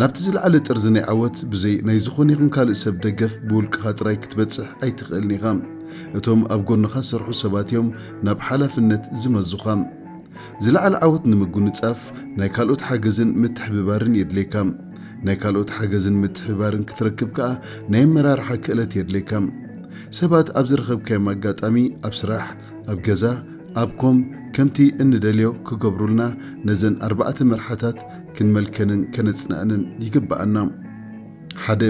ናብቲ ዝለዓለ ጥርዚ ናይ ዓወት ብዘይ ናይ ዝኾነ ይኹን ካልእ ሰብ ደገፍ ብውልቅኻ ጥራይ ክትበጽሕ ኣይትኽእልን ኢኻ። እቶም ኣብ ጎንኻ ዝሰርሑ ሰባት እዮም ናብ ሓላፍነት ዝመዙኻ። ዝለዓለ ዓወት ንምጉንጻፍ ናይ ካልኦት ሓገዝን ምትሕብባርን የድልየካ። ናይ ካልኦት ሓገዝን ምትሕብባርን ክትረክብ ከኣ ናይ ኣመራርሓ ክእለት የድልየካ። ሰባት ኣብ ዝረኸብካዮም ኣጋጣሚ፣ ኣብ ስራሕ፣ ኣብ ገዛ ኣብ ኮም ከምቲ እንደልዮ ክገብሩልና ነዘን ኣርባዕተ መርሓታት ክንመልከንን ከነጽንዕንን ይግብኣና። ሓደ፣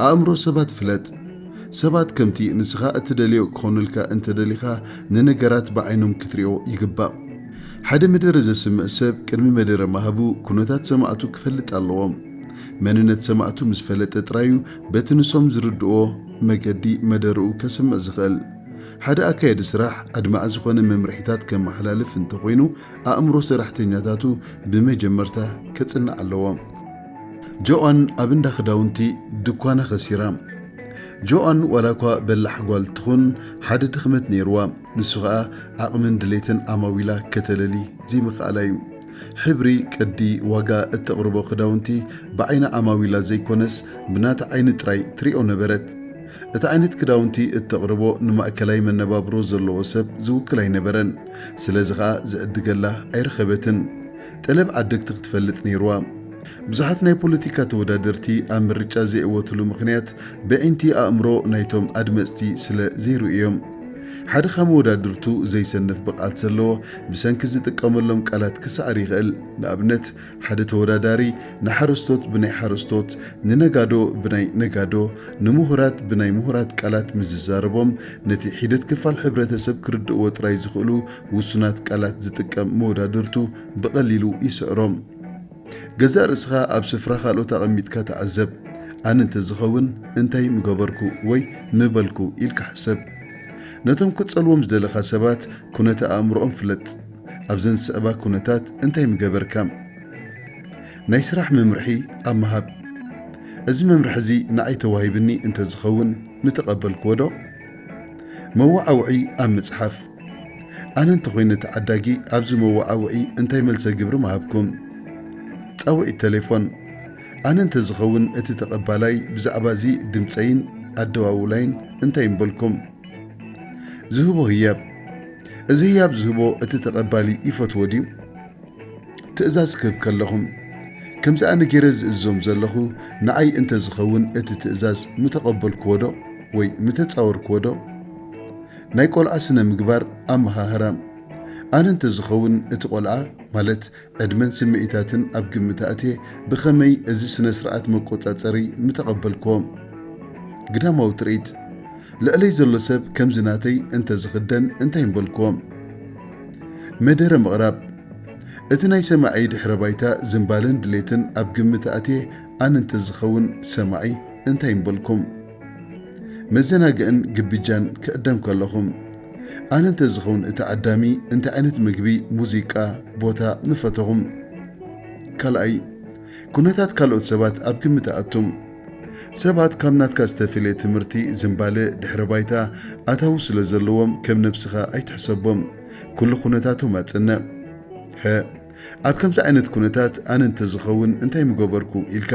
ኣእምሮ ሰባት ፍለጥ። ሰባት ከምቲ ንስኻ እትደልዮ ክኾኑልካ እንተደሊኻ ንነገራት ብዓይኖም ክትሪኦ ይግባእ። ሓደ መደረ ዘስምዕ ሰብ ቅድሚ መደረ ምሃቡ ኩነታት ሰማዕቱ ክፈልጥ ኣለዎ። መንነት ሰማዕቱ ምስ ፈለጠ ጥራዩ በቲ ንሶም ዝርድእዎ መገዲ መደርኡ ከስምዕ ዝኽእል። ሓደ ኣካያዲ ስራሕ ኣድማዒ ዝኾነ መምርሒታት ከመሓላልፍ እንተኾይኑ ኣእምሮ ሰራሕተኛታቱ ብመጀመርታ ከጽንዕ ኣለዎ። ጆኣን ኣብ እንዳ ክዳውንቲ ድኳና ኸሲራ። ጆኣን ዋላ እኳ በላሕ ጓል ትኹን ሓደ ድኽመት ነይርዋ፣ ንሱ ኸኣ ዓቕምን ድሌትን ዓማዊላ ከተለሊ ዘይምኽኣላ እዩ። ሕብሪ፣ ቅዲ፣ ዋጋ እተቕርቦ ክዳውንቲ ብዓይኒ ዓማዊላ ዘይኮነስ ብናታ ዓይኒ ጥራይ ትሪኦ ነበረት። እቲ ዓይነት ክዳውንቲ እተቕርቦ ንማእከላይ መነባብሮ ዘለዎ ሰብ ዝውክል ኣይነበረን፣ ስለዚ ኸኣ ዝዕድገላ ኣይረኸበትን። ጠለብ ዓደግቲ ክትፈልጥ ነይሩዋ። ብዙሓት ናይ ፖለቲካ ተወዳደርቲ ኣብ ምርጫ ዘይእወትሉ ምኽንያት በዒንቲ ኣእምሮ ናይቶም ኣድመጽቲ ስለ ዘይርእዩ እዮም። ሓደ ካብ መወዳድርቱ ዘይሰንፍ ብቕዓት ዘለዎ ብሰንኪ ዝጥቀመሎም ቃላት ክሰዓር ይኽእል፣ ንኣብነት፣ ሓደ ተወዳዳሪ ንሓረስቶት ብናይ ሓረስቶት፣ ንነጋዶ ብናይ ነጋዶ፣ ንምሁራት ብናይ ምሁራት ቃላት ምስ ዝዛረቦም ነቲ ሒደት ክፋል ሕብረተሰብ ክርድእዎ ጥራይ ዝኽእሉ ውሱናት ቃላት ዝጥቀም መወዳድርቱ ብቐሊሉ ይስዕሮም። ገዛእ ርእስኻ ኣብ ስፍራ ካልኦት ኣቐሚጥካ ተዓዘብ። ኣነ እንተዝኸውን እንታይ ምገበርኩ ወይ ምበልኩ ኢልካ ሕሰብ። ነቶም ክትጸልዎም ዝደለኻ ሰባት ኩነተ ኣእምሮኦም ፍለጥ። ኣብዘን ዝስዕባ ኩነታት እንታይ ምገበርካ? ናይ ስራሕ መምርሒ ኣብ ምሃብ፣ እዚ መምርሒ እዚ ንዓይ ተዋሂብኒ እንተ ዝኸውን ምተቐበልክዎዶ? መወዓውዒ ኣብ ምጽሓፍ፣ ኣነ እንተ ኾይነ ተዓዳጊ ኣብዚ መወዓውዒ እንታይ መልሰ ግብሪ ምሃብኩም? ጻውዒት ተሌፎን፣ ኣነ እንተ ዝኸውን እቲ ተቐባላይ ብዛዕባ እዚ ድምጸይን ኣደዋውላይን እንታይ ምበልኩም? ዝህቦ ህያብ እዚ ህያብ ዝህቦ እቲ ተቐባሊ ይፈትዎ ድዩ? ትእዛዝ ክህብ ከለኹም ከምዚ ኣነ ገይረ ዝእዝዞም ዘለኹ ንኣይ እንተ ዝኸውን እቲ ትእዛዝ ምተቐበልክዎ ዶ ወይ ምተጻወርክዎ ዶ? ናይ ቆልዓ ስነ ምግባር ኣመሃህራ ኣነ እንተ ዝኸውን እቲ ቆልዓ ማለት ዕድመን ስምዒታትን ኣብ ግምት ኣእትየ ብኸመይ እዚ ስነ-ስርዓት መቆጻጸሪ ምተቐበልክዎ። ግዳማዊ ትርኢት። ልዕለይ ዘሎ ሰብ ከምዚ ናተይ እንተ ዝኽደን እንታይ ምበልክዎ። መደረ ምቕራብ። እቲ ናይ ሰማዒ ድሕረ ባይታ ዝንባለን ድሌትን ኣብ ግምት ኣእትየ ኣነ እንተ ዝኸውን ሰማዒ እንታይ ምበልኩም። መዘናግዕን ግብጃን ክዕደም ከለኹም ኣነ እንተዝኸውን እቲ ዓዳሚ እንታይ ዓይነት ምግቢ፣ ሙዚቃ፣ ቦታ ምፈተኹም? ካልኣይ፣ ኩነታት ካልኦት ሰባት ኣብ ግምት ኣእቱም። ሰባት ካብ ናትካ ዝተፈልየ ትምህርቲ፣ ዝንባለ፣ ድሕረ ባይታ፣ ኣታዊ ስለ ዘለዎም ከም ነብስኻ ኣይትሕሰቦም። ኩሉ ኩነታቶም ኣጽንዕ። ሐ። ኣብ ከምዚ ዓይነት ኩነታት ኣነ እንተ ዝኸውን እንታይ ምገበርኩ ኢልካ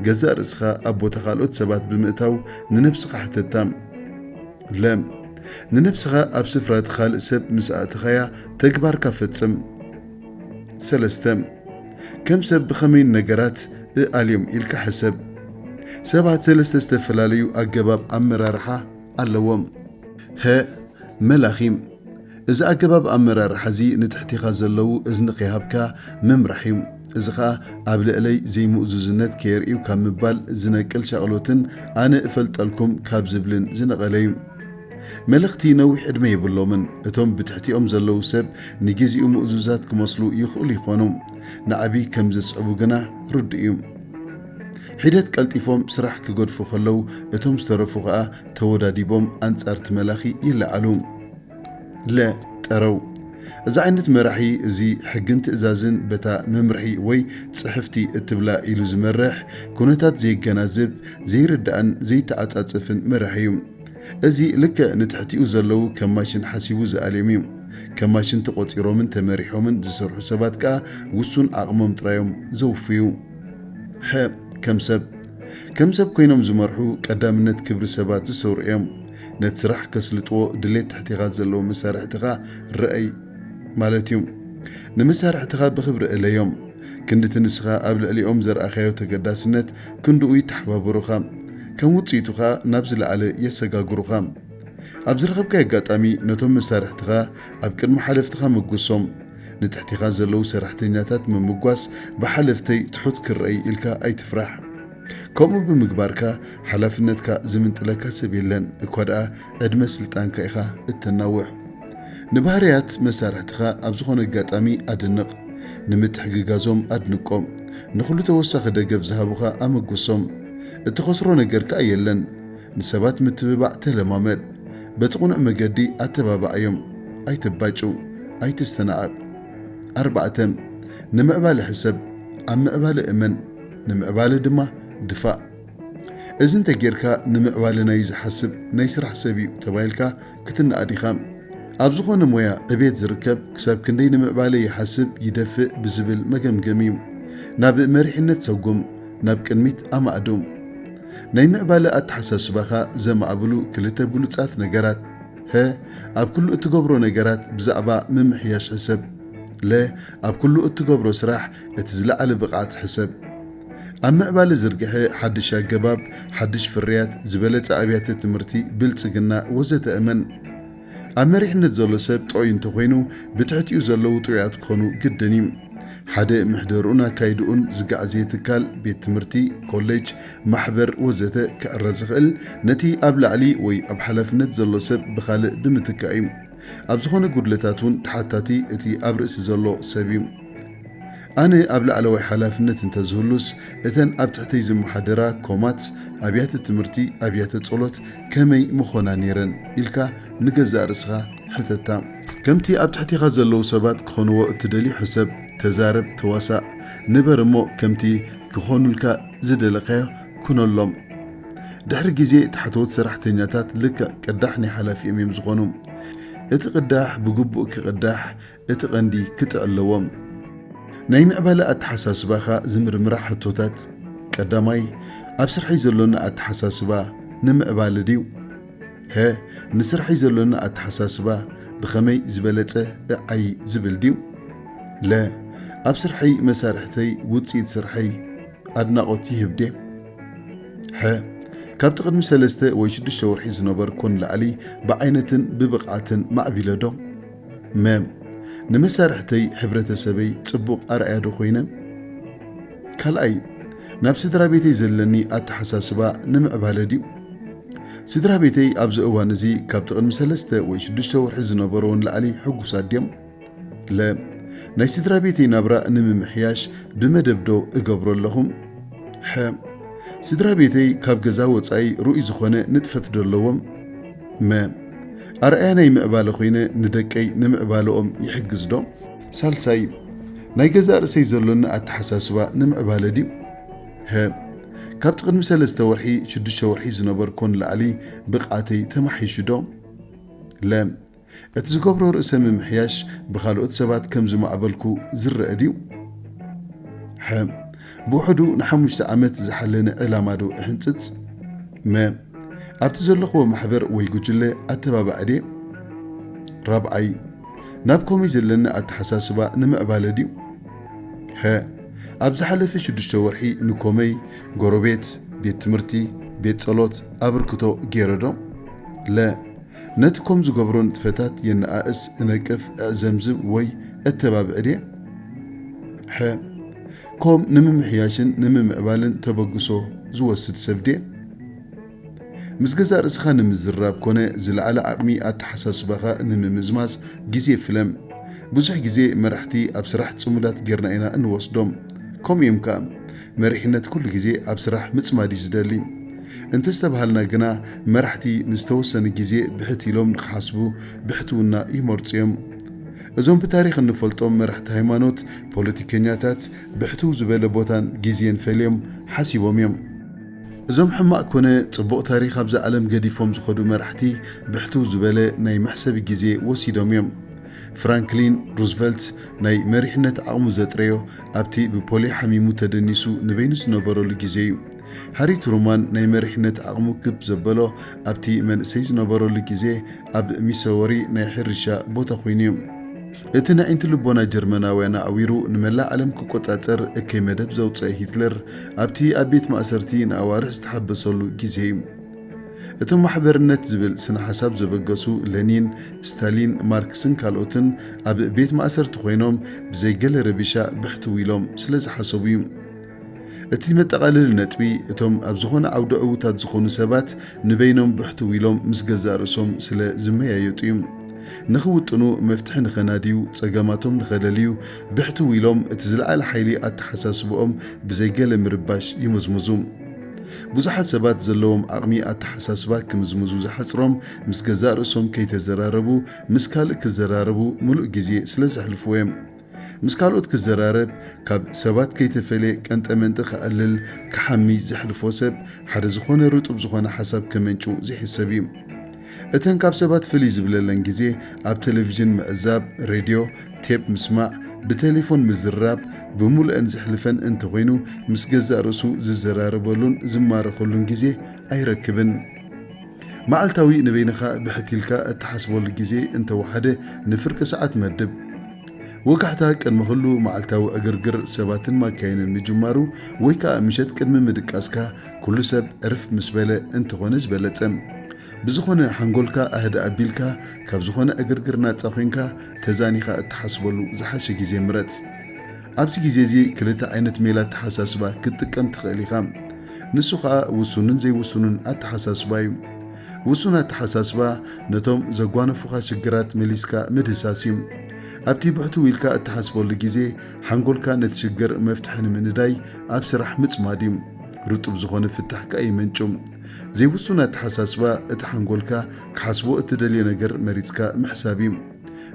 ገዛእ ርእስኻ ኣብ ቦታ ካልኦት ሰባት ብምእታው ንነብስኻ ሕተታ። ለ። ንነብስኻ ኣብ ስፍራ እቲ ካልእ ሰብ ምስ ኣእተኻያ ተግባርካ ፈጽም። ሰለስተ። ከም ሰብ ብኸመይ ንነገራት እኣልዮም ኢልካ ሕሰብ። ሰባት ሰለስተ ዝተፈላለዩ ኣገባብ ኣመራርሓ ኣለዎም። ሀ። መላኺ። እዚ ኣገባብ ኣመራርሓ እዚ ንትሕቲኻ ዘለዉ እዝኒ ከይሃብካ ምምራሕ እዩ። እዚ ኸኣ ኣብ ልዕለይ ዘይምእዙዝነት ከየርእዩ ካብ ምባል ዝነቅል ሻቕሎትን ኣነ እፈልጠልኩም ካብ ዝብልን ዝነቐለ እዩ። መለኽቲ ነዊሕ ዕድመ የብሎምን። እቶም ብትሕቲኦም ዘለዉ ሰብ ንግዜኡ ምእዙዛት ክመስሉ ይኽእሉ ይኾኑ፣ ንዓቢ ከም ዘስዕቡ ግና ርዱእ እዩ። ሒደት ቀልጢፎም ስራሕ ክገድፉ ከለዉ እቶም ዝተረፉ ኸኣ ተወዳዲቦም ኣንጻር'ቲ መላኺ ይለዓሉ። ለ ጠረው እዚ ዓይነት መራሒ እዚ ሕግን ትእዛዝን በታ መምርሒ ወይ ጽሕፍቲ እትብላ ኢሉ ዝመርሕ ኩነታት ዘየገናዝብ ዘይርዳእን ዘይተዓጻጽፍን መራሒ እዩ። እዚ ልክዕ ንትሕቲኡ ዘለዉ ከም ማሽን ሓሲቡ ዝኣልዮም እዩ። ከም ማሽን ተቖጺሮምን ተመሪሖምን ዝሰርሑ ሰባት ከኣ ውሱን ዓቕሞም ጥራይ እዮም ዘውፍዩ። ሐ ከም ሰብ ከም ሰብ ኮይኖም ዝመርሑ ቀዳምነት ክብሪ ሰባት ዝሰሩ እዮም። ነቲ ስራሕ ከስልጥዎ ድሌት ትሕቴኻ ዘለዉ መሳርሕትኻ ርኣይ ማለት እዩ። ንመሳርሕትኻ ብኽብሪ እለዮም። ክንዲ እቲ ንስኻ ኣብ ልዕሊኦም ዘርኣኻዮ ተገዳስነት፣ ክንድኡ ይተሓባበሩኻ። ከም ውጽኢቱ ከኣ ናብ ዝለዓለ የሰጋግሩኻ። ኣብ ዝረኸብካዮ ኣጋጣሚ ነቶም መሳርሕትኻ ኣብ ቅድሚ ሓለፍትኻ መጉሶም። ንትሕቴኻ ዘለዉ ሰራሕተኛታት ምምጓስ ብሓለፍተይ ትሑት ክርኣይ ኢልካ ኣይትፍራሕ። ከምኡ ብምግባርካ ሓላፍነትካ ዝምንጥለካ ሰብ የለን፣ እኳ ደኣ ዕድመ ስልጣንካ ኢኻ እተናውሕ። ንባህርያት መሳርሕትኻ ኣብ ዝዀነ ኣጋጣሚ ኣድንቕ። ንምትሕግጋዞም ኣድንቆም። ንዅሉ ተወሳኺ ደገፍ ዝሃቡኻ ኣመጕሶም። እትኸስሮ ነገር ከኣ የለን። ንሰባት ምትብባዕ ተለማመድ። በቲ ቕኑዕ መገዲ ኣተባብዓዮም። ኣይተባጩ። ኣይትስተናቐቕ። ኣርባዕተ፣ ንምዕባለ ሕሰብ። ኣብ ምዕባለ እመን። ንምዕባለ ድማ ድፋእ። እዚ እንተ ጌርካ ንምዕባለና እዩ ዝሓስብ ናይ ስራሕ ሰብ እዩ ተባሂልካ ክትነኣድ ኢኻ። ኣብ ዝኾነ ሞያ ዕቤት ዝርከብ ክሳብ ክንደይ ንምዕባለ ይሓስብ ይደፍእ ብዝብል መገምገሚ እዩ ናብ መሪሕነት ሰጉም ናብ ቅድሚት ኣማእዱ። ናይ ምዕባለ ኣተሓሳስባኻ ዘማዕብሉ ክልተ ብሉጻት ነገራት ሀ ኣብ ኩሉ እትገብሮ ነገራት ብዛዕባ ምምሕያሽ ሕሰብ። ለ ኣብ ኩሉ እትገብሮ ስራሕ እቲ ዝለዓለ ብቕዓት ሕሰብ። ኣብ ምዕባለ ዝርግሐ ሓድሽ ኣገባብ፣ ሓድሽ ፍርያት፣ ዝበለጸ ኣብያተ ትምህርቲ፣ ብልጽግና፣ ወዘተ እመን። ኣብ መሪሕነት ዘሎ ሰብ ጥዑይ እንተኾይኑ፣ ብትሕቲኡ ዘለዉ ጥዑያት ክኾኑ ግድን እዩ። ሓደ ምሕደርኡን ኣካይድኡን ዝጋዕዘየ ትካል፣ ቤት ትምህርቲ፣ ኮሌጅ፣ ማሕበር፣ ወዘተ፣ ክዕረ ዝኽእል፣ ነቲ ኣብ ላዕሊ ወይ ኣብ ሓላፍነት ዘሎ ሰብ ብኻልእ ብምትካእ እዩ። ኣብ ዝኾነ ጉድለታት እውን ተሓታቲ እቲ ኣብ ርእሲ ዘሎ ሰብ እዩ። ኣነ ኣብ ላዕለዋይ ሓላፍነት እንተዝህሉስ እተን ኣብ ትሕተይ ዝመሓደራ ኮማት፣ ኣብያተ ትምህርቲ፣ ኣብያተ ጸሎት ከመይ ምኾና ነይረን ኢልካ ንገዛእ ርእስኻ ሕተታ። ከምቲ ኣብ ትሕቴኻ ዘለዉ ሰባት ክኾንዎ እትደልዮ ሕሰብ፣ ተዛረብ፣ ተዋሳእ፣ ንበር እሞ ከምቲ ክኾኑልካ ዝደለኻዮ ኩነሎም። ድሕሪ ግዜ ታሕተዎት ሰራሕተኛታት ልክዕ ቅዳሕ ናይ ሓላፊኦም እዮም ዝኾኑ። እቲ ቅዳሕ ብግቡእ ክቅዳሕ እቲ ቀንዲ ክጥዕ ኣለዎም። ናይ ምዕባለ ኣተሓሳስባኻ ዝምርምራ ሕቶታት፣ ቀዳማይ፣ ኣብ ስርሐይ ዘሎኒ ኣተሓሳስባ ንምዕባለ ድዩ? ሀ፣ ንስርሐይ ዘሎኒ ኣተሓሳስባ ብኸመይ ዝበለጸ እዓይ ዝብል ድዩ? ለ፣ ኣብ ስርሐይ መሳርሕተይ ውጽኢት ስርሐይ? ኣድናቖት ይህብ ድየ? ሐ። ካብቲ ቅድሚ ሰለስተ ወይ ሽዱሽተ ወርሒ ዝነበርኩ ንላዕሊ ብዓይነትን ብብቕዓትን ማዕቢለ ዶ? መ። ንመሳርሕተይ፣ ሕብረተሰበይ፣ ጽቡቕ ኣርኣያ ዶ ኮይነ? ካልኣይ፣ ናብ ስድራቤተይ ዘለኒ ኣተሓሳስባ ንምዕባለ ድዩ? ስድራቤተይ ኣብዚ እዋን እዚ ካብቲ ቅድሚ ሰለስተ ወይ ሽዱሽተ ወርሒ ዝነበሮ ንላዕሊ ሕጉሳት ድዮም? ለ ናይ ስድራ ቤተይ ናብራ ንምምሕያሽ ብመደብ ዶ እገብሮ ኣለኹ? ሐ ስድራ ቤተይ ካብ ገዛ ወፃኢ ርኡይ ዝኾነ ንጥፈት ዶ ኣለዎም? መ ኣርኣያ ናይ ምዕባለ ኮይነ ንደቀይ ንምዕባለኦም ይሕግዝ ዶ? ሳልሳይ ናይ ገዛእ ርእሰይ ዘሎኒ ኣተሓሳስባ ንምዕባለ ድዩ? ሀ ካብቲ ቅድሚ ሰለስተ ወርሒ ሽዱሽተ ወርሒ ዝነበርኮ ንላዕሊ ብቕዓተይ ተማሕይሹ ዶ? ለ እቲ ዝገብሮ ርእሰ ምምሕያሽ ብኻልኦት ሰባት ከም ዝማዕበልኩ ዝረኣ ድዩ? ሐ። ብውሕዱ ንሓሙሽተ ዓመት ዝሓለነ ዕላማ ዶ እሕንጽጽ? መ። ኣብቲ ዘለኹዎ ማሕበር ወይ ጉጅለ ኣተባባዒ ድየ? ራብዓይ። ናብ ኮሚይ ዘለኒ ኣተሓሳስባ ንምዕባለ ድዩ? ሐ። ኣብ ዝሓለፈ ሽዱሽተ ወርሒ ንኮመይ፣ ጎረቤት፣ ቤት ትምህርቲ፣ ቤት ጸሎት፣ ኣበርክቶ ገይረ ዶ? ለ። ነቲ ኮም ዝገብሮ ንጥፈታት የነኣእስ፣ እነቅፍ፣ እዕዘምዝም ወይ እተባብዕ ድየ? ሐ። ኮም ንምምሕያሽን ንምምዕባልን ተበግሶ ዝወስድ ሰብ ድየ? ምስ ገዛእ ርእስኻ ንምዝርራብ ኮነ ዝለዓለ ዓቕሚ ኣተሓሳስባኻ ንምምዝማዝ ግዜ ፍለም። ብዙሕ ግዜ መራሕቲ ኣብ ስራሕ ጽሙዳት ጌርና ኢና እንወስዶም። ከምኡ'ዮም ከኣ። መሪሕነት ኩሉ ግዜ ኣብ ስራሕ ምጽማድ እዩ ዝደሊ። እንተስተብሃልና ግና መራሕቲ ንዝተወሰነ ግዜ ብሕት ኢሎም ንኽሓስቡ ብሕትውና ይመርጹ እዮም። እዞም ብታሪኽ እንፈልጦም መራሕቲ ሃይማኖት፣ ፖለቲከኛታት ብሕትው ዝበለ ቦታን ግዜን ፈልዮም ሓሲቦም እዮም። እዞም ሕማቕ ኮነ ጽቡቕ ታሪኽ ኣብዛ ዓለም ገዲፎም ዝኸዱ መራሕቲ ብሕትው ዝበለ ናይ መሕሰቢ ግዜ ወሲዶም እዮም። ፍራንክሊን ሩዝቨልት ናይ መሪሕነት ዓቕሙ ዘጥረዮ ኣብቲ ብፖልዮ ሓሚሙ ተደኒሱ ንበይኑ ዝነበረሉ ግዜ እዩ። ሃሪ ትሩማን ናይ መሪሕነት ዓቕሙ ክብ ዘበሎ ኣብቲ መንእሰይ ዝነበረሉ ግዜ ኣብ ሚሰወሪ ናይ ሕርሻ ቦታ ኮይኑ እዩ። እቲ ነዒንቲ ልቦና ጀርመናውያን ኣዕዊሩ ንመላእ ዓለም ክቆጻጸር እከይ መደብ ዘውጸኣ ሂትለር ኣብቲ ኣብ ቤት ማእሰርቲ ንኣዋርሕ ዝተሓበሰሉ ግዜ እዩ። እቶም ማሕበርነት ዝብል ስነ ሓሳብ ዘበገሱ ለኒን፣ ስታሊን፣ ማርክስን ካልኦትን ኣብ ቤት ማእሰርቲ ኮይኖም ብዘይ ገለ ረቢሻ ብሕትው ኢሎም ስለ ዝሓሰቡ እዩ። እቲ መጠቓለሊ ነጥቢ እቶም ኣብ ዝኾነ ዓውዲ ዕዉታት ዝኾኑ ሰባት ንበይኖም ብሕትው ኢሎም ምስ ገዛእ ርእሶም ስለ ዝመያየጡ እዩ። ንኽውጥኑ፣ መፍትሒ ንኸናድዩ፣ ጸገማቶም ንኸለልዩ ብሕትው ኢሎም እቲ ዝለዓለ ሓይሊ ኣተሓሳስብኦም ብዘይ ገለ ምርባሽ ይምዝምዙ። ብዙሓት ሰባት ዘለዎም ዓቕሚ ኣተሓሳስባ ክምዝምዙ ዝሓጽሮም ምስ ገዛእ ርእሶም ከይተዘራረቡ ምስ ካልእ ክዘራረቡ ምሉእ ግዜ ስለ ዘሕልፍዎ እዮም። ምስ ካልኦት ክዘራረብ ካብ ሰባት ከይተፈልየ ቀንጠመንጢ ክኣልል ክሓሚ ዘሕልፎ ሰብ ሓደ ዝኾነ ርጡብ ዝኾነ ሓሳብ ከመንጭው ዘይሕሰብ እዩ። እተን ካብ ሰባት ፍልይ ዝብለለን ግዜ ኣብ ተለቪዥን ምዕዛብ፣ ሬድዮ፣ ቴፕ ምስማዕ፣ ብቴሌፎን ምዝርራብ ብምሉኤን ዘሕልፈን እንተኾይኑ ምስ ገዛእ ርእሱ ዝዘራረበሉን ዝማረኸሉን ግዜ ኣይረክብን። መዓልታዊ ንበይንኻ ብሕት ኢልካ እትሓስበሉ ግዜ እንተወሓደ ንፍርቂ ሰዓት መድብ። ወጋሕታ ቅድሚ ኹሉ መዓልታዊ ዕግርግር ሰባትን ማካይንን ምጅማሩ ወይ ከኣ ምሸት ቅድሚ ምድቃስካ ኩሉ ሰብ እርፍ ምስ በለ እንተኾነ ዝበለጸ። ብዝኾነ ሓንጎልካ ኣህድእ ኣቢልካ ካብ ዝኾነ ዕግርግር ናጻ ኮይንካ ተዛኒኻ እትሓስበሉ ዝሓሸ ግዜ ምረጽ። ኣብዚ ግዜ እዚ ክልተ ዓይነት ሜላ ኣተሓሳስባ ክትጥቀም ትኽእል ኢኻ። ንሱ ከኣ ውሱንን ዘይውሱንን ኣተሓሳስባ እዩ። ውሱን ኣተሓሳስባ ነቶም ዘጓነፉኻ ሽግራት መሊስካ ምድህሳስ እዩ። ኣብቲ ብሕትው ኢልካ እትሓስበሉ ግዜ ሓንጎልካ ነቲ ሽግር መፍትሒ ንምንዳይ ኣብ ስራሕ ምጽማድ እዩ። ርጡብ ዝኾነ ፍታሕ ከኣ የመንጩ። ዘይውሱን ኣተሓሳስባ፣ እቲ ሓንጎልካ ክሓስቦ እትደልዮ ነገር መሪጽካ ምሕሳብ እዩ።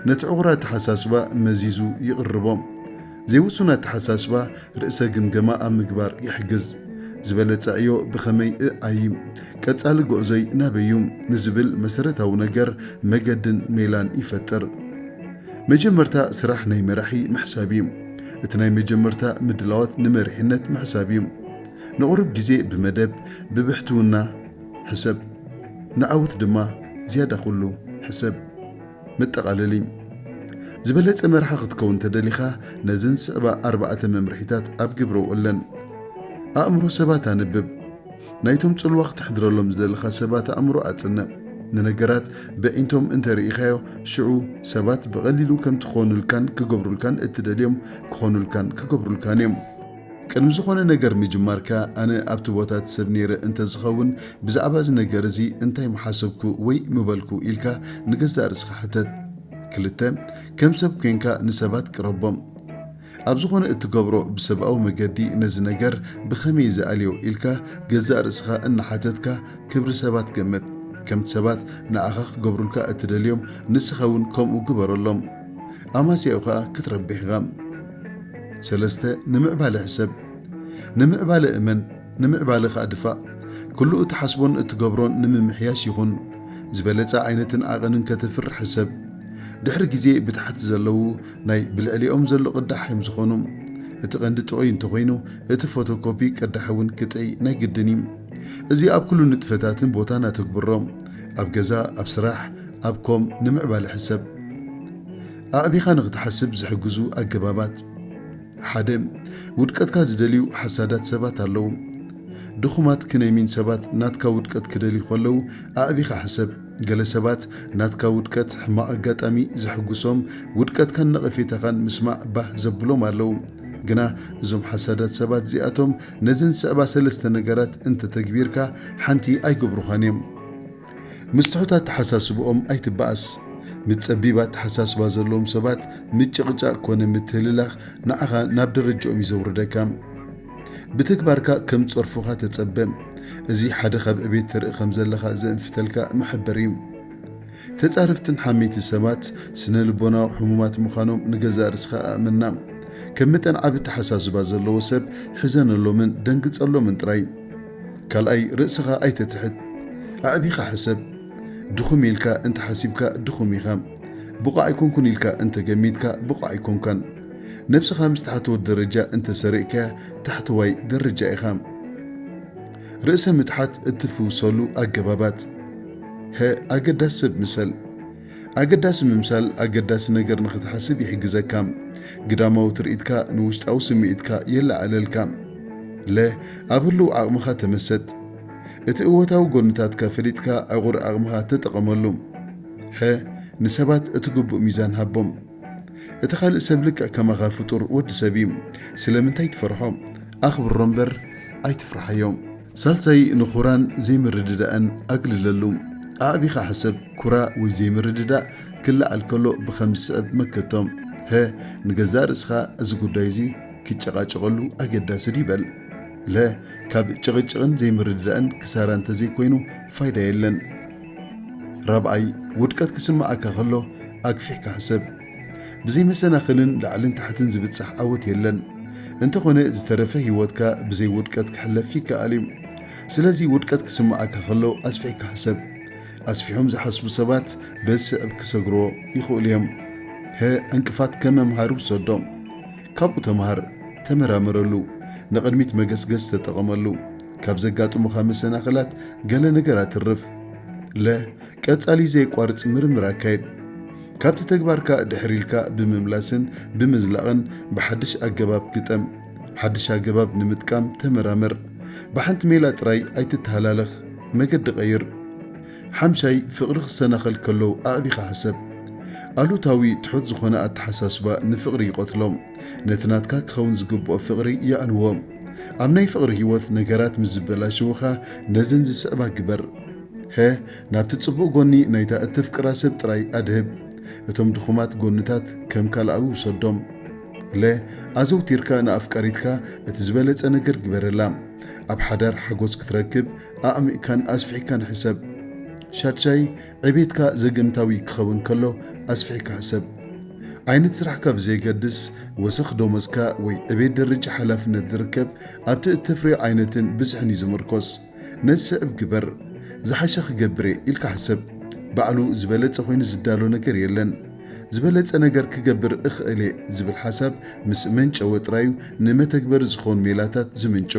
ነቲ ዕቑር ኣተሓሳስባ መዚዙ ይቕርቦ። ዘይውሱን ኣተሓሳስባ ርእሰ ግምገማ ኣብ ምግባር ይሕግዝ። ዝበለጸ ዕዮ ብኸመይ እ ኣዪ? ቀጻሊ ጎዕዞይ ናበይ እዩ? ንዝብል መሰረታዊ ነገር መገድን ሜላን ይፈጥር። መጀመርታ ስራሕ ናይ መራሒ ምሕሳብ እዩ። እቲ ናይ መጀመርታ ምድላዋት ንመሪሕነት ምሕሳብ እዩ። ንቑሩብ ግዜ ብመደብ ብብሕትውና ሕሰብ፣ ንዓወት ድማ ዝያዳ ኩሉ ሕሰብ። መጠቓለሊ፣ ዝበለጸ መራሒ ክትከውን እንተደሊኻ ነዘን ዝስዕባ ኣርባዕተ መምርሒታት ኣብ ግብሪ ኣውዕለን። ኣእምሮ ሰባት ኣንብብ። ናይቶም ጽልዋ ክተሕድረሎም ዝደለኻ ሰባት ኣእምሮ ኣጽንዕ። ንነገራት በዒንቶም እንተ ርኢኻዮ፣ ሽዑ ሰባት ብቐሊሉ ከምቲ ክኾኑልካን ክገብሩልካን እትደልዮም ክኾኑልካን ክገብሩልካን እዮም። ቅድሚ ዝኾነ ነገር ምጅማርካ፣ ኣነ ኣብቲ ቦታ እቲ ሰብ ነይረ እንተ ዝኸውን ብዛዕባ እዚ ነገር እዚ እንታይ ምሓሰብኩ ወይ ምበልኩ? ኢልካ ንገዛእ ርእስኻ ሕተት። ክልተ፣ ከም ሰብ ኴንካ ንሰባት ቅረቦም። ኣብ ዝኾነ እትገብሮ ብሰብኣዊ መገዲ ነዚ ነገር ብኸመይ ዝኣልዮ ኢልካ ገዛእ ርእስኻ እናሓተትካ ክብሪ ሰባት ገምት። ከምቲ ሰባት ንኣኻ ክገብሩልካ እትደልዮም ንስኻ እውን ከምኡ ግበረሎም። ኣማስያኡ ኸኣ ክትረብሕ ኢኻ። ሰለስተ፣ ንምዕባለ ሕሰብ። ንምዕባለ እመን፣ ንምዕባለ ኸኣ ድፋእ። ኩሉ እትሓስቦን እትገብሮን ንምምሕያሽ ይኹን። ዝበለጸ ዓይነትን ዓቐንን ከተፍርሕ ሕሰብ። ድሕሪ ግዜ ብታሕቲ ዘለዉ ናይ ብልዕሊኦም ዘሎ ቅዳሕ እዮም ዝኾኑ። እቲ ቀንዲ ጥዑይ እንተኾይኑ እቲ ፎቶ ኮፒ ቅዳሕ እውን ክጥዕይ ናይ ግድን እዩ። እዚ ኣብ ኩሉ ንጥፈታትን ቦታን ኣተግብሮ፣ ኣብ ገዛ፣ ኣብ ስራሕ፣ ኣብ ኮም፣ ንምዕባለ ሕሰብ። ኣዕቢኻ ንኽትሓስብ ዝሕግዙ ኣገባባት። ሓደ፣ ውድቀትካ ዝደልዩ ሓሳዳት ሰባት ኣለዉ። ድኹማት ክነይሚን ሰባት ናትካ ውድቀት ክደልዩ ከለዉ ኣዕቢኻ ሕሰብ። ገለ ሰባት ናትካ ውድቀት፣ ሕማቕ ኣጋጣሚ፣ ዘሕጉሶም፣ ውድቀትካን ነቐፌታኻን ምስማዕ ባህ ዘብሎም ኣለዉ። ግና እዞም ሓሳዳት ሰባት እዚኣቶም ነዘን ዝስዕባ ሰለስተ ነገራት እንተ ተግቢርካ ሓንቲ ኣይገብሩኻን እዮም። ምስ ትሑት ኣተሓሳስብኦም ኣይትበኣስ። ምስ ጸቢብ ኣተሓሳስባ ዘለዎም ሰባት ምጭቕጫቕ ኮነ ምትህልላኽ ንዓኻ ናብ ደረጅኦም እዩ ዘውርደካ። ብተግባርካ ከም ጸርፉኻ ተጸበ። እዚ ሓደ ካብ ዕቤት ተርኢ ከም ዘለኻ ዘእንፍተልካ መሐበሪ እዩ። ተጻረፍትን ሓመይቲ ሰባት ስነ ልቦናዊ ሕሙማት ምዃኖም ንገዛእ ርስኻ ኣእመና። ከም መጠን ዓቢ ኣተሓሳስባ ዘለዎ ሰብ ሕዘነሎምን ደንግጸሎምን ጥራይ። ካልኣይ ርእስኻ ኣይተትሕት። ኣዕቢኻ ሕሰብ። ድኹም ኢልካ እንተ ሓሲብካ ድኹም ኢኻ። ብቑዕ ኣይኮንኩን ኢልካ እንተ ገሚትካ ብቑዕ ኣይኮንካን። ነብስኻ ምስ ታሕተዎት ደረጃ እንተ ሰሪቕካያ ታሕተዋይ ደረጃ ኢኻ። ርእሰ ምትሓት እትፍውሰሉ ኣገባባት፣ ሀ ኣገዳሲ ሰብ ምሰል። ኣገዳሲ ምምሳል ኣገዳሲ ነገር ንኽትሓስብ ይሕግዘካ። ግዳማዊ ትርኢትካ ንውሽጣዊ ስምዒትካ የለዓዕለልካ። ለ ኣብ ህሉው ዓቕምኻ ተመሰጥ። እቲ እወታዊ ጎንታትካ ፈሊጥካ ዕቑር ዓቕምኻ ተጠቐመሉ። ሐ ንሰባት እቲ ግቡእ ሚዛን ሃቦም። እቲ ካልእ ሰብ ልክዕ ከማኻ ፍጡር ወዲ ሰብ እዩ ስለምንታይ ትፈርሖ ኣኽብሮ እምበር ኣይትፍርሓዮ። ሳልሳይ ንኩራን ዘይምርድዳእን ኣግልለሉ። ኣዕቢኻ ሕሰብ ኩራ ወይ ዘይምርድዳእ ክለዓል ከሎ ብኸም ዝስዕብ መከቶ፣ ሀ ንገዛእ ርእስኻ እዚ ጉዳይ እዚ ክጨቓጨቐሉ ኣገዳሲ ድዩ በል። ለ ካብ ጭቕጭቕን ዘይምርድዳእን ክሳራ እንተዘይኮይኑ ፋይዳ የለን። ራብዓይ፣ ውድቀት ክስምዓካ ከሎ ኣግፊሕካ ሕሰብ። ብዘይ መሰናኽልን ላዕልን ታሕትን ዝብጻሕ ዓወት የለን። እንተኾነ ዝተረፈ ህይወትካ ብዘይ ውድቀት ክሕለፍ ይከኣል እዩ። ስለዚ ውድቀት ክስምዓካ ከሎ ኣስፊሕካ ሕሰብ። ኣስፊሖም ዝሓስቡ ሰባት በዚ ስዕብ ክሰግርዎ ይኽእሉ እዮም። ሀ ዕንቅፋት ከም መምሃሪ ውሰዶ። ካብኡ ተምሃር፣ ተመራመረሉ፣ ንቕድሚት መገስገስ ተጠቐመሉ። ካብ ዘጋጥሙኻ መሰናኽላት ገለ ነገራት እርፍ። ለ ቀጻሊ ዘየቋርጽ ምርምር ኣካይድ። ካብቲ ተግባርካ ድሕር ኢልካ ብምምላስን ብምዝላቕን ብሓድሽ ኣገባብ ግጠም። ሓድሽ ኣገባብ ንምጥቃም ተመራመር። ብሓንቲ ሜላ ጥራይ ኣይትተሃላለኽ፣ መገዲ ቀይር። ሓምሻይ፣ ፍቕሪ ክሰናኸል ከሎ ኣዕቢኻ ሕሰብ። ኣሉታዊ ትሑት ዝኾነ ኣተሓሳስባ ንፍቕሪ ይቐትሎ። ነቲ ናትካ ክኸውን ዝግብኦ ፍቕሪ የዕንዎ። ኣብ ናይ ፍቕሪ ህይወት ነገራት ምስ ዝበላሸዉኻ ነዘን ዝስዕባ ግበር። ሀ ናብቲ ጽቡቕ ጎኒ ናይታ እተፍቅራ ሰብ ጥራይ ኣድህብ። እቶም ድኹማት ጎንታት ከም ካልኣዊ ውሰዶም። ለ ኣዘውቲርካ ንኣፍቃሪትካ እቲ ዝበለጸ ነገር ግበረላ። ኣብ ሓዳር ሓጎስ ክትረክብ ኣዕሚቕካን ኣስፊሕካን ሕሰብ። ሻድሻይ፣ ዕቤትካ ዘገምታዊ ክኸውን ከሎ ኣስፊሕካ ሕሰብ። ዓይነት ስራሕካ ብዘየገድስ፣ ወሰኽ ደሞዝካ ወይ ዕቤት ደረጃ ሓላፍነት ዝርከብ ኣብቲ እተፍርዮ ዓይነትን ብዝሕን እዩ ዝምርኮስ። ነዚ ስዕብ ግበር፣ ዝሓሸ ክገብር እየ ኢልካ ሕሰብ። ባዕሉ ዝበለጸ ኮይኑ ዝዳሎ ነገር የለን። ዝበለጸ ነገር ክገብር እኽእል እየ ዝብል ሓሳብ ምስ መንጨወ ጥራይ እዩ ንመተግበሪ ዝኸውን ሜላታት ዝምንጩ።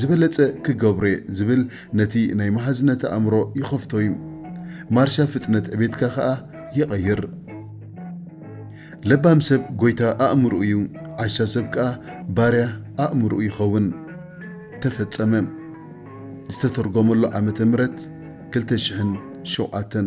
ዝበለጸ ክገብሮ እየ ዝብል ነቲ ናይ መሃዝነት ኣእምሮ ይኸፍቶ እዩ። ማርሻ ፍጥነት ዕቤትካ ከኣ ይቐይር። ለባም ሰብ ጎይታ ኣእምርኡ እዩ፣ ዓሻ ሰብ ከኣ ባርያ ኣእምርኡ ይኸውን። ተፈጸመ። ዝተተርጎመሉ ዓመተ ምህረት ክልተ ሽሕን ሸውዓተን።